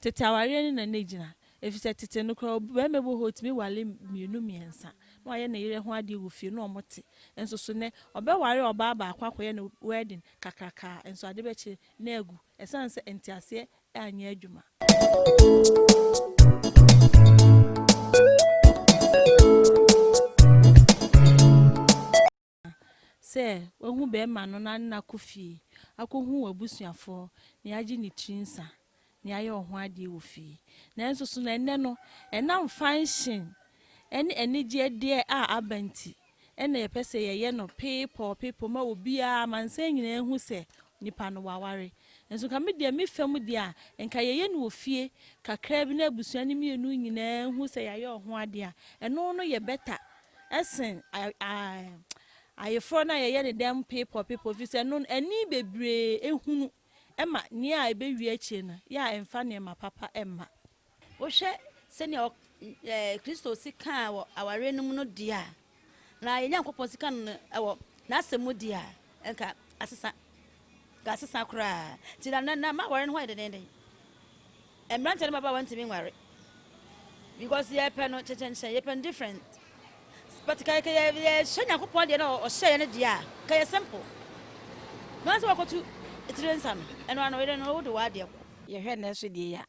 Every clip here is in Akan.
Tete awareɛ no na na ɛgyina, ɛfiri sɛ tete no koraa ɔbarima bi wɔ hɔ a ɔtumi ware mmienu mmiɛnsa na wayɛ ne yere ho adeɛ wɔ fie na wɔte, nso so nnɛ ɔbɛware ɔbaa baako akɔyɛ no wedding kakraka a nso ade bɛkyere na agu ɛsiane sɛ nteaseɛ anyɛ adwuma. sɛ wahu bɛɛma no na ne no akɔ fie akɔhu w'abusuafoɔ na yagye ne tiri nsa na yayɛ ɔho adeɛ wɔ fie. Nanso so na ɛnnɛ no ɛnam fanhyen ɛne anigyeɛ deɛ a aba nti ɛna yɛpɛ sɛ yɛyɛ no peepɔɔ peepɔɔ ma obiara amansan nyinaa hu sɛ nipa no waware. Nanso nka me deɛ, me fɛ mu deɛ a, nka yɛyɛ no wɔ fie kakraa bi na abusua no mmienu nyinaa hu sɛ yɛayɛ ɔho adeɛ a, ɛno no yɛ better sen ayeforɔ no a yɛyɛ no dɛm peepɔ peepɔ firi sɛ ɛno no ani bebree hunu ma nea ɛbɛwie akyire no yɛ a ɛmfa nneɛma papa mma. Wohwɛ sɛnea ɔ, ɛ, Kristo sikaa wɔ awareɛ no mu no deɛ a, na yɛn Nyankopɔn sika no wɔ N'asɛm mu deɛ a, nka asesa. Nka asesa koraa. Nti na, na, na ma aware no ho ayɛ dendenden. Mmeranteɛ ne mmabaawa ntumi nware. Because yɛpɛ no kyenkyenkyen, yɛpɛ no different. But ka yɛ, yɛhyɛ Nyankopɔn deɛ na ɔhyɛeɛ no deɛ a, ka yɛ simple. Nanso wakɔtu tire nsa no, ɛno ano yere no wode w'adeɛ kɔ. Yɛhwɛ nnɛ nso deɛ a,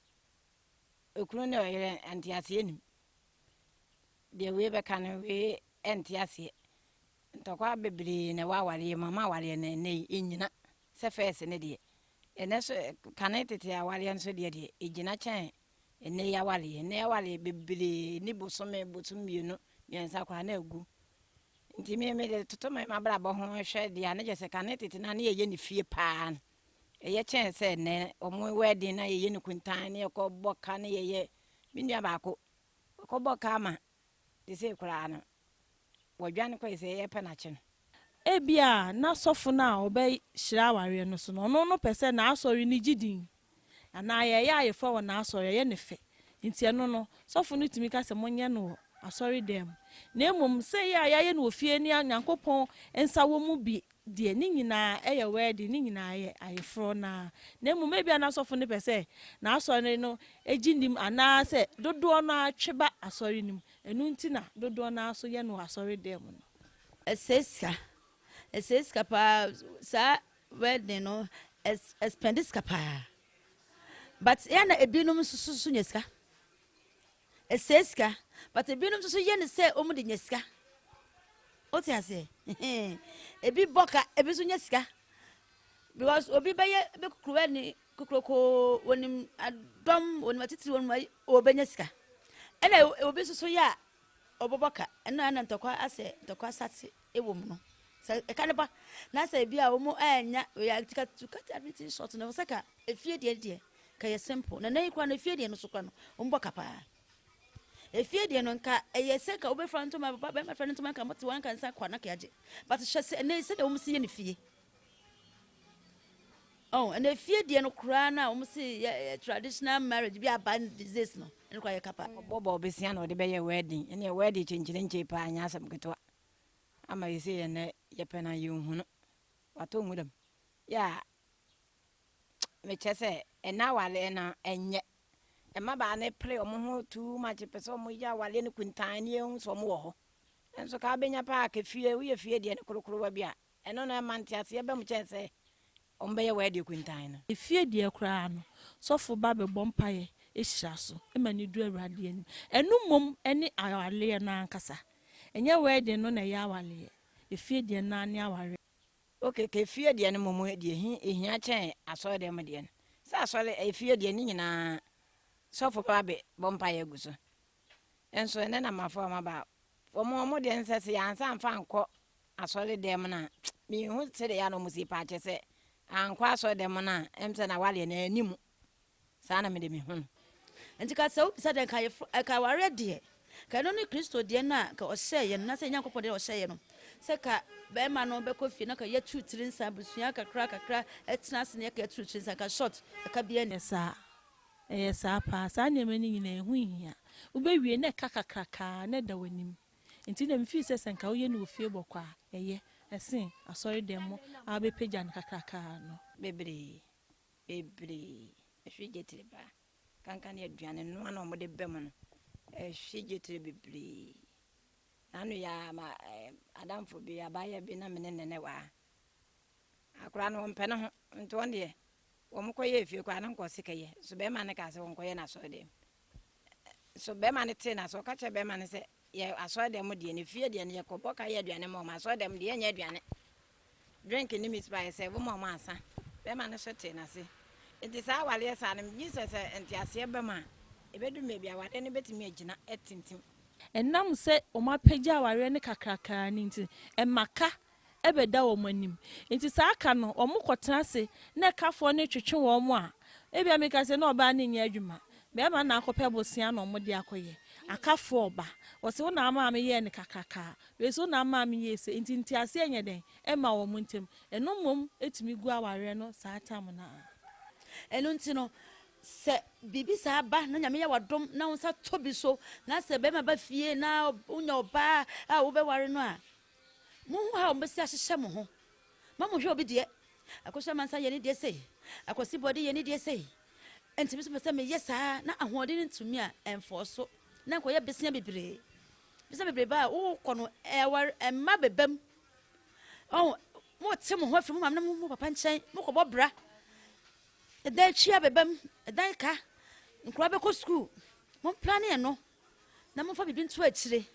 Okunu ne ɔyere nteaseɛ nim. Deɛ wei bɛka no wei ɛnte aseɛ. Ntɔkwa bebree na ɛwɔ awareɛ mu ama awareɛ no ɛnɛ yi ɛnyina sɛ fɛs ne deɛ. Ɛnɛ so kane tete awareɛ nso deɛ deɛ ɛgyina kyɛn ɛnɛ yi awareɛ. Ɛnɛ awareɛ bebree ni bosome bosom mmienu mmiɛnsa koraa na agu. Nti me mede toto me mabrabɔ ho hwɛ deɛ a ne kyɛ sɛ kane tete no a ne yɛyɛ ne fie paa no. Ɛyɛ kyɛn sɛ nnɛ wɔn wɛɛden no a yɛyɛ no kuntann na yɛkɔbɔ ka na yɛyɛ. Me nua baako, ɔkɔbɔɔ ka ama seesei koraa no, wadwane kɔe sɛ yɛrepɛ no akye no. Ebia na sɔfo no a ɔbɛhyira awareɛ no so no, ɔno no pɛ sɛ n'asɔre no gye din anaa yɛyɛ ayeforo wɔ n'asɔre, ɛyɛ no fɛ nti ɛno no, sɔfo no tumi ka sɛ monyɛ no wɔ asɔredan mu. Na mmom, sɛ ɛyɛ a yɛayɛ no wɔ fie ne Onyankopɔn nsa wɔ mu bi deɛ ne nyinaa yɛ wɛɛden, ne nyinaa yɛ ayeforɔ no ara, na mmom ebia na asɔfo no pɛ sɛ n'asɔre no gye nnim anaasɛ dodoɔ no ara twe ba asɔre no mu, ɛno nti na dodoɔ no ara nso yɛ no wɔ asɔredan mu no. Ɛsɛe sika, ɛsɛe sika pa ara, saa wɛɛden no, ɛspɛnde sika pa ara, but yɛ a na ebinom nso so nya sika, Ɛsɛe sika. But ebinom nso so yɛ no sɛ wɔn de nya sika. Wote aseɛ? Ebi bɔ ka, ebi nso nya sika. Because obi bɛyɛ bɛ kukuruwa ni kokorokoo, wɔnim adɔm, wɔnim atitiri, wɔnim ayi, ɔbɛnya sika. Ɛna obi nso so yɛ a ɔbɛbɔ ka. Ɛno a na ntɔkwa asɛ, ntɔkwa asate. wɔ mu no, sɛ ɛka no ba na sɛ ebi a wɔn annya ya tika to cut everything short no sɛ ka efie deɛ deɛ ka yɛ simple na nan kura no efie deɛ no so kura no wɔn bɔ ka paa efie deɛ no nka ɛyɛ sɛ ka wobɛfra ntoma papa bɛrima fɛ no ntoma nka mote wɔn nka nsa kɔ na ka yɛagye but hyɛ sɛ ɛnɛ sɛ deɛ wɔn si yɛ ne fie Oh, and if you didn't cry now, we see a traditional marriage be a band disease no. And cry a kappa. Bobo Bessiano, the Bay wedding, and your wedding change in Chapa and Yasam Katua. ama sesei yɛ ndɛ yɛpɛ no a yennhu no. Ɔatɔ wo mu dɛm? Yeah, mekyerɛ sɛ nna awareɛ no ɛnyɛ. Mmabaa no pere wɔn ho too much pɛ sɛ wɔyɛ awareɛ no kuntann ne yɛhu sɛ wɔwɔ hɔ. Nso ka wobɛnya paa ka fie, woyɛ fie deɛ no korokorowa bi a Ɛno na ɛma nteaseɛ ba mu kyɛn sɛ wɔbɛyɛ w'ade akuntan no. Efie deɛ koraa no, sɔfo ba bɛbɔ mpaeɛ hyira so ma no du Awurade anim. Ɛno mmom ne awareɛ no ankasa. Ɛnyɛ w'ade no na ɛyɛ awareɛ. Efie deɛ no ara ne awareɛ. Ok, ka efie deɛ no mmom deɛ ɛhia kyɛn asɔredɛm deɛ no. Sɛ asɔre, efie deɛ no nyinaa sɔfo ba bɛbɔ mpaeɛ agu so. nso ɛnɛ na mafa wɔn aba wɔn wɔn deɛ nsɛ sɛ yɛansa nfa nkɔ asɔre dɛm no a mehu sɛdeɛ yɛ na wɔn si paakyɛ sɛ ankɔ asɔre dɛm no a ɛm sɛ na waleɛ na anim saa na mede mehu no nti ka sɛ wobisa dɛ nka yɛfo ɛka awareɛ deɛ ka ɛno ne kristo deɛ no a ka ɔhyɛɛ yɛ no na sɛ nyankopɔn deɛ ɔhyɛɛ yɛ no sɛ ka bɛrima no bɛkɔ fie na ka yɛturu tiri nsa abusua kakra kakra ɛtena ase ne ɛka ɛturu tiri nsa ka short ɛka biɛ ne saa Ɛyɛ saa paa. Saa nneɛma no nyinaa, ɛho nhia. Wobɛwie, na ɛka kakraka ara, na ɛda w'anim. Enti na mefii sɛ, sɛ anka woyɛ no wɔ fie bɔkɔɔ a, ɛyɛ, ɛsen asɔredɛm mu a wobɛpagya no kakraka ara no. Bebree, bebree, ɛhwe gyetere paa. Kanka ne aduane noa no a wɔde ba mu no, ɛhwe gyetere bebree. Na ano yi ara, ma, ɛɛ, adamfo bi, abaayewa bi na me ne no na ɛwɔ ha. Akwadaa no, ɔmpɛ ne ho, nti ɔno deɛ, Wɔkɔyɛɛ fie koraa, na anka ɔse kɛyɛ. Nso barima no kaa sɛ wɔnkɔyɛ no asɔredan mu. Nso barima no tee no ase, ɔka kyerɛɛ barima no sɛ, Yɛ asɔredan mu deɛ no, fie deɛ no, yɛkɔbɔ ka yɛ aduane ma wɔn. Asɔredan mu deɛ, yɛnyɛ aduane, drink ne meat pie, yɛsɛɛvo ma wɔn ansa. Barima no nso tee no ase. Enti saa awareɛ saa no, megye di sɛ sɛ nteaseɛ ba mu a, ɛbɛduru baabi a awareɛ no bɛtumi agyina atintim. Ɛnam sɛ wɔapagya awareɛ no kakrakaa no nti, ɛma ka bɛda wɔn anim. Enti saa ka no, wɔkɔtena ase na ɛkafoɔ no retwetwe wɔn a, ebia meka sɛ na ɔbaa no nyɛ adwuma, barima no na akɔpɛ bosea na wɔde akɔyɛ. Akafoɔ ɔba, ɔse wo na amaa meyɛɛ no kakrakaa, wei nso wo na amaa meyɛɛ sei, enti nteaseɛ nyɛ dɛn mma wɔn ntam. Ɛno mmom tumi gu awareɛ no saa tam no ara. Ɛno nti no, sɛ biribi saa ba na Nyame yɛ wo adom na wo nsa tɔ bi so, na sɛ barima ba fie na wonya ɔbaa a wobɛware no a, Monhu how mobɛsi ahyehyɛ mo ho ma mohwɛ obi deɛ, Akosua Mansa yɛ ne deɛ sei, Akwasi Bɔde yɛ ne deɛ sei, enti me nso mepɛ sɛ meyɛ saa na ahoɔden no ntumi a, ɛmfɔɔ so na nkɔyɛ besia bebree. Besia bebree ba a, wokɔ no ɛwar, ɛmma bɛba mu. Ɔho, mote mo ho afiri mo maame ne mo papa nkyɛn, mokɔbɔ bra, ɛdan twi abɛba mu, ɛdan ka, nkura bɛkɔ sukuu, mo mplane ɛno. na momfa biribi nto akyire.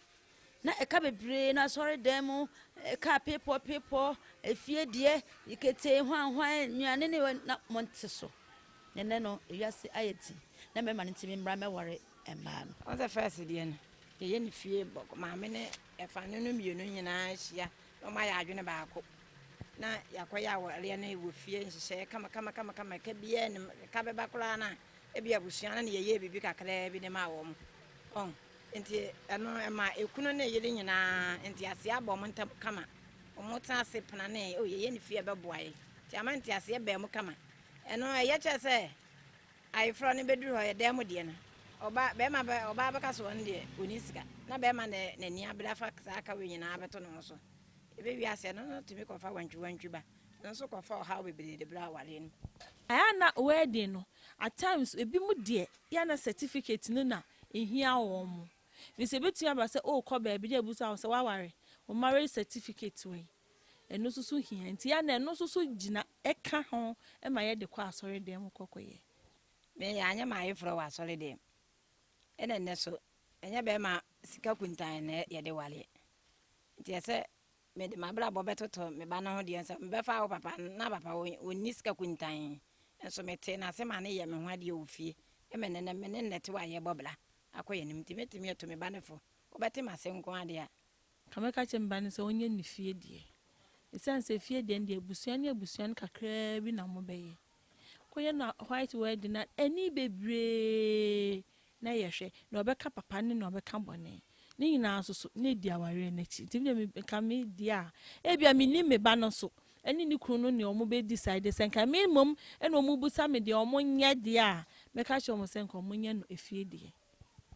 Na ɛka bebree no asɔredan mu, ɛka pepɔ pepɔ, efie deɛ, ketee hwanhwan, nnuane ne na monte so. Na ɛnɛ no, ewiase ayɛ ti, na mmarima no nti memmra mɛware mmaa no. Wɔn sɛ first deɛ no, yɛyɛ ne fie bɔkɔ, maame ne ɛfa no no mmienu nyinaa hyia na wɔn ayɛ adwene baako. Na yɛakɔyɛ awareɛ no wɔ fie nhyehyɛeɛ kama kama kama kama, ɛka biara nim, ɛka bɛba koraa no a. Ebia abusua no na yɛyɛɛ biribi kakraa bi de maa wɔn. Ɔn? Enti ɛno ɛma ekunu ne yere nyinaa ntease aba wɔn ntam kama. Wɔtena ase penanee, Oh, yɛyɛ ne fie a, ɛbɛboa yɛn. Enti ama nteaseɛ baa mu kama. Ɛno ɛyɛ kyerɛ sɛ ayeforɔ no bɛduru hɔ, ɛyɛ dan mu deɛ no, ɔba, bɛrima bɛ, ɔbaa bɛka sɛ ɔno deɛ ɔnni sika, na bɛrima na n'ani abere afa saa ka wei nyinaa abɛto ne ho so. Ɛbɛwie aseɛ no, ɔno tumi kɔfa wantwiwantwi ba. nso kɔfa ɔhaw bebree de brɛ awareɛ no mu. Ɛyɛ a na wedding no at times ebi mo deɛ yɛ a na certificate no na ɛhia wɔn mo firi sɛ ɛbɛtumi aba sɛ orekɔ baabi na abisa wo sɛ waware wo marriage certificate wɔ yi ɛno nso so hia nti yɛ a na ɛno nso so gyina ɛka ho ma yɛ de kɔ asɔre dɛm mo kɔ kɔ yɛ. Me yɛ anyɛ m'ayeforɔ wɔ asɔre dɛm ɛna nnɛ so ɛnyɛ bɛɛma sika kuntan na yɛde wareɛ nti ɛsɛ Mede m'abrabɔ bɛtoto me ba no ho deɛ nso, mebɛfa wo papa no. Ná papa wɔ, ɔnni sika kuntann, nso metee no ase ma no yɛɛ me ho adeɛ wɔ fie. Ɛma nnɛ no, me ne no na ɛte hɔ a yɛrebɔ bra akɔ yɛn anim. Enti mɛtumi atu me ba no fo. Wobɛte m'ase nko ara deɛ a. Anka mɛka kyerɛ me ba no sɛ ɔnyɛ ne fie deɛ, ɛsiane sɛ fie deɛ no deɛ, abusua ne abusua no kakraa bi na mobɛyɛ. Woyɛ no white wedding a, ani bebree na yɛhwɛ. Nea ɔbɛka papa ne nea ɔbɛka bɔne. Ne nyinaa nso so, na edi awareɛ no akyi. Nti me deɛ nka me deɛ a, ebia mennim me ba no nso ne ne kunu no nea wɔbɛ decide. Sɛ nka me mmom na wɔbusa me deɛ wɔnyɛ deɛ a, mɛka kyerɛ wɔn sɛ nka wɔnyɛ no efie deɛ.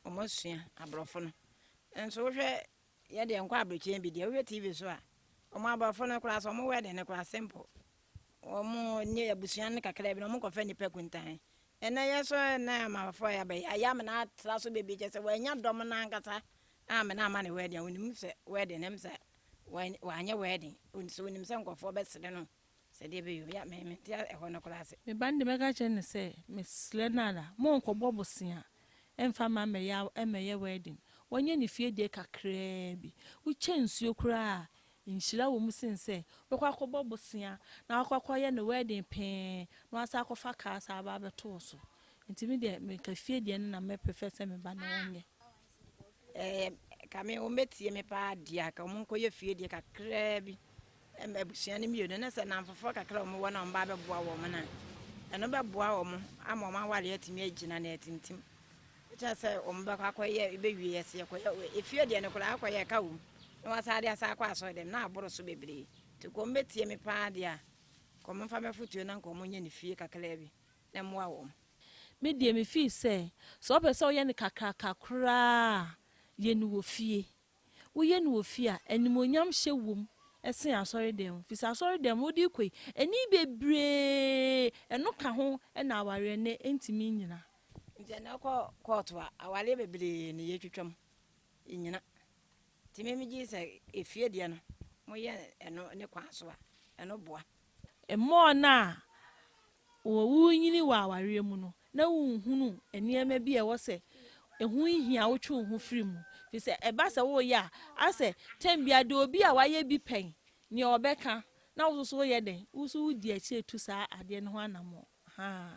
Wɔasua aborɔfo no. Nso wohwɛ Yɛ deɛ nkɔ abrokyire bi deɛ wohwɛ TV so a wɔn abrɔfo no koraa so wɔn wedding no koraa simple wɔn ne abusua no kakra bi na wɔn kɔfɛ nipa kuntan ɛnɛ yɛ so ɛnɛ amafo yɛ abɛyɛ ayɛ amena atra so bebree kyɛ sɛ wɔanya dɔm no ankasa a amena ama ne wedding a wɔnim sɛ wedding ne sɛ wɔanyɛ wedding nso wɔnim sɛ nkɔfoɔ bɛsere no Sɛ deɛ ɛbɛyɛ obiara, me, mente a, ɛhɔ no koraa ase. Me ba no deɛ mɛka akyerɛ no sɛ, mesrɛ no ara, monkɔbɔ bosea mfa mma mmɛyɛ a, mmɛyɛ wedding. Wɔnyɛ no fie deɛ kakraa bi. Wokyɛ nsuo koraa a, nhyira wɔ mu sen sɛ wobɛkɔ akɔbɔ bosea na woakɔ akɔyɛ no wedding pee na woasan akɔfa car san aba abɛto wo so. Nti me deɛ, me nka fie deɛ no na mɛ prefer sɛ me ba no ɔnyɛ. Ɛɛ, ka me wɔbɛtie me paa deɛ a, ka wɔnkɔyɛ fie deɛ kakraa bi ma abusua no mmienu na sɛ nnamfofoɔ kakra a wɔwɔ no a wɔba bɛboa wɔn no a, ɛno bɛboa wɔn ama wɔn awareɛ atumi agyina na atintim. Ɛkyerɛ sɛ wɔbɛkɔ akɔyɛ bɛwie yɛ sɛ yɛkɔyɛ efie deɛ no koraa akɔyɛ ka wom na wɔasan de asa akɔ asɔre dɛm na aboro so bebree. Nti ka wɔbɛtie me paa deɛ a, ka wɔmfa me afotuo na nka wɔnyɛ ne fie kakraa bi. mmoa wɔn. Me deɛ me feel sɛ, sɛ wɔpɛ sɛ wɔyɛ no kakraka koraa a, yɛ no wɔ fie. Woyɛ no wɔ fie a, animuonyam hyɛ wom sen asɔredan mu. Firi sɛ asɔredan mu, wode rekɔ yi, ani bebree, ɛno ka ho na awareɛ no ntumi nnyina. Nti ɛnna wokɔ kɔɔto a, awareɛ bebree na yɛtwitwa mu, ɛnnyina. Nti me megye di sɛ efie deɛ no, moyɛ ɛno ne kwan so a, ɛno boa. Mmoa no a worenyini wɔ awareɛ mu no na wonhunu nneɛma bi a ɛwɔ sɛ ɛho hia wotwe wo ho firi mu firi sɛ ɛba sɛ woreyɛ a asɛ tɛm bia de obi a wayɛ bi pɛn neɛ ɔbɛka na wo soso woyɛ dɛn wo so wodi akyire tu saa adeɛ no ho anamɔ haa